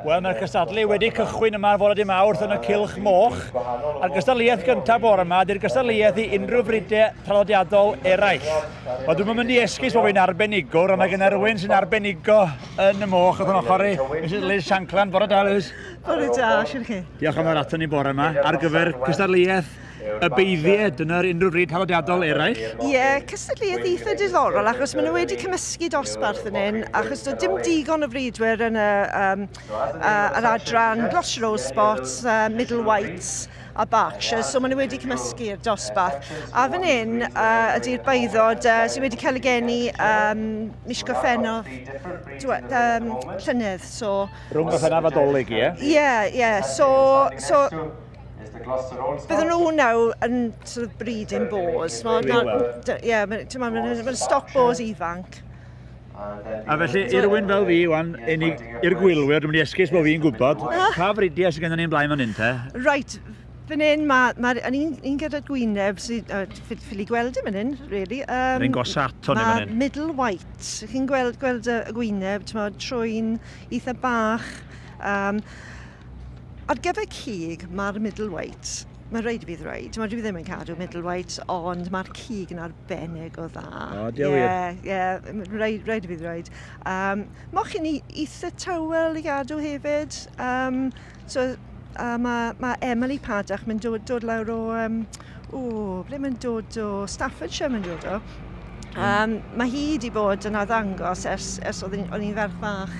Wel, mae'r gystadlu wedi cychwyn yma fod wedi mawrth yn y Cilch Moch. A'r gystadleuaeth gyntaf bore yma, dy'r gystadleuaeth i unrhyw frydau traddodiadol eraill. Wel, dwi'n mynd i esgus bod fi'n arbenigwr, ond mae gen rhywun sy'n arbenigo yn y moch oedd yn ochr i. Mrs Liz Shankland, bore da, Liz. Bore da, siwr chi. Diolch am yr ato ni bore yma ar gyfer cystadleuaeth y beiddiau, dyna ar unrhyw bryd traddodiadol eraill? Ie, yeah, cystadleuaeth eitha diddorol, achos maen nhw wedi cymysgu dosbarth yn hyn, achos doedd dim digon o fridwyr yn y, um, uh, yr adran Gloucester Rose Spots, uh, Middle Whites, a Berkshire, so maen nhw wedi cymysgu'r dosbarth. A fan hyn uh, ydy'r baiddod uh, sydd wedi cael y geni um, mis Gorffennaf um, llynedd. So, Rhwng Gorffennaf a Dolig, ie? Ie, ie. So, so Bydden nhw nawr yn sort of breeding boars. Mae Really well. Ie, yeah, mae'n stoc boars ifanc. A felly, i rywun fel fi, wan, unig i'r gwylwyr, dwi'n mynd i esgus bod fi'n gwybod, ah. pa fridiau sydd gennym ni'n blaen fan hyn te? Right, fan hyn, mae ma, ma un, un gyda gwyneb sydd, uh, ffili gweld yn fan hyn, really. Um, Rwy'n gosa ato ni fan hyn. middle white, chi'n gweld, gweld y gwyneb, trwy'n eitha bach. Um, Ar gyfer cig, mae'r middleweight, mae'n rhaid i fi ddweud, timod, dwi ddim yn cadw middleweight, ond mae'r cig yn arbennig o dda. O, oh, diolch yeah, wir. Ie, yeah, rhaid, rhaid i fi ddweud. Um, Moch chi'n eitha tywel i gadw hefyd. Um, so, uh, mae, mae Emily Padach mynd dod, dod lawr o um, O, ble mae'n dod o? Staffordshire mae'n dod o. Um, mae hi wedi bod yn addangos ers, ers oedd o'n i'n ferch fach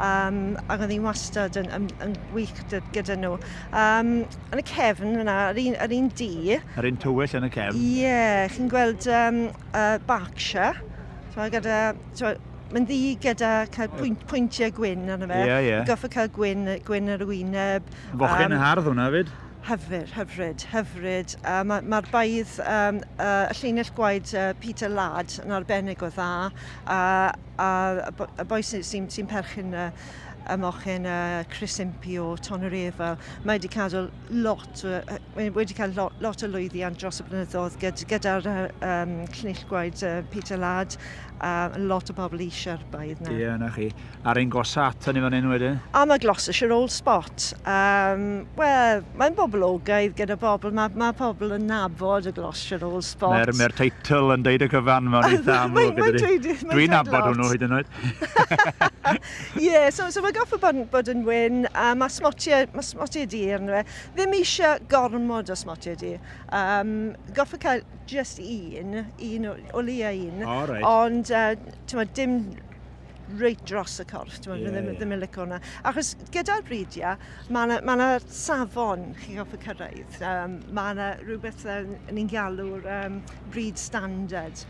um, ac oedd hi'n wastad yn, yn, yn wych gyda, gyda nhw. Um, yn y cefn yna, yr un, yr un di. Yr un tywyll yn y cefn? Ie, yeah, chi'n gweld um, uh, Berkshire, so, gyda, so, mae'n ddi gyda cael pwynt, pwyntiau gwyn arno fe. Ie, yeah, ie. Yeah. Goffa cael gwyn, gwyn ar y wyneb. Fochyn um, yn hardd hwnna fyd? Hyfryd, hyfryd, hyfryd. Yy ma' ma'r baedd yym yy y llinell gwaed yy Peter Ladd yn arbennig o dda a a y bo- y boi sy sy'n sy'n perchyn y y mochyn yy Chris Impey o Tonoreville mae 'di cadw lot o yy mae wedi cael lo- lot o lwyddiant dros y blynyddoedd gyd- gyda'r yy yym llinell gwaed yy Peter Ladd a lot o bobl eisiau'r baedd 'na. Ie 'na chi. ar ein gosa ato ni fan hyn wedyn. A mae Gloucestershire Old Spot, um, wel, mae'n boblogaidd gyda pobl, mae, mae pobl yn nabod y Gloucestershire Old Spot. Mae'r mae teitl yn deud y cyfan mewn eitha amlwg. Mae'n dweud Dwi'n nabod hwnnw hyd yn oed. Ie, yeah, so, so mae goffa bod, bod yn wyn, a mae smotiau, mae smotiau di yn dweud. Ddim eisiau gormod o smotiau di. Um, goffa cael just un, un o, o leia un. Oh, right. Ond, uh, ti'n dim reit dros y corff, dwi'n yeah, ddim, yeah. ddim yn licio hwnna. Achos gyda'r bridiau, mae yna ma safon chi'n goffa cyrraedd. Um, mae yna rhywbeth uh, ni'n galw'r um, breed standard.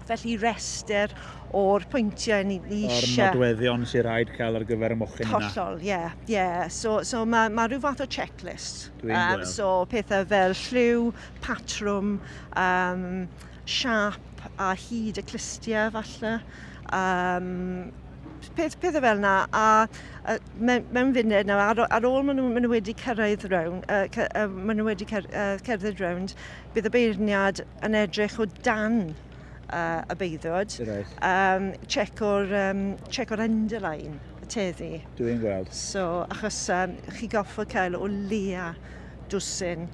Felly rester o'r pwyntiau ni, ni eisiau. O'r nodweddion sy'n rhaid cael ar gyfer y mochyn yna. Hollol, ie. Yeah, yeah. So, so mae ma rhyw fath o checklist. Dwi'n um, gweld. So pethau fel lliw, patrwm, um, siâp a hyd y clustiau falle, um, peth, pethau fel yna, a, a mewn, mewn funud nawr, ar, ar ôl maen nhw, maen nhw wedi cyrraedd rownd, uh, cy, uh, maen nhw wedi cer, uh, cerdded rownd, bydd y beirniad yn edrych o dan uh, y beiddwyd, right. um, check o'r, um, check o'r underline, y teddi. Dwi'n gweld. So, achos um, chi goffo cael o leia dwsin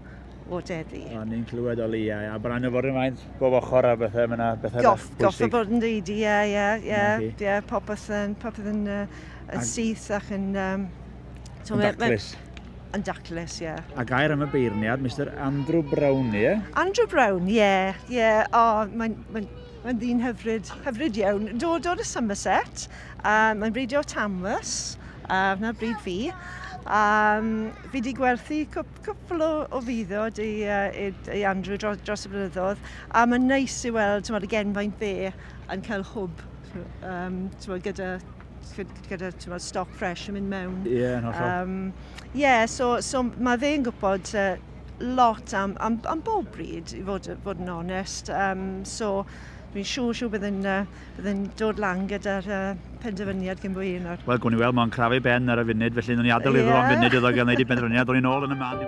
o Deddf. O'n ni'n clywed o leiau, a bod yna nyfodyn faint bob ochr a bethau, mae yna bethau Goff, bwysig. Goff o fod yn ddeud, ie, ie, ie, ie, popeth yn, popeth yn, uh, yn syth ac yn... Um, so yn daclus. Yn daclus, ie. Yeah. A gair am y beirniad, Mr Andrew Brown, ie? Yeah? Andrew Brown, ie, yeah, ie. Yeah. O, oh, mae'n mae, mae ddyn hyfryd, hyfryd iawn. Dod o'r Somerset, uh, mae'n breidio Tamworth, a uh, wna bryd fi. Um, fi wedi gwerthu cwp cwpl o, o fuddod i, uh, i Andrew dros, dros y blynyddoedd, a mae'n neis i weld tymod, y genfaint fe yn cael hwb um, tymod, gyda gyda tymod, stoc ffres yn mynd mewn. Ie, yeah, no, sure. Um, yeah, so, so mae fe'n gwybod uh, lot am, am, am bob bryd, i fod, fod yn onest. Um, so, dwi'n siŵr, siŵr bydd yn uh, Byddwn dod lan gyda'r uh, penderfyniad cyn bo hyn nawr. Wel, gwn i weld, mae'n crafu ben ar y funud, felly nhw'n i adael yeah. iddo am funud iddo gael gwneud i penderfyniad, dod i'n ôl yn y man.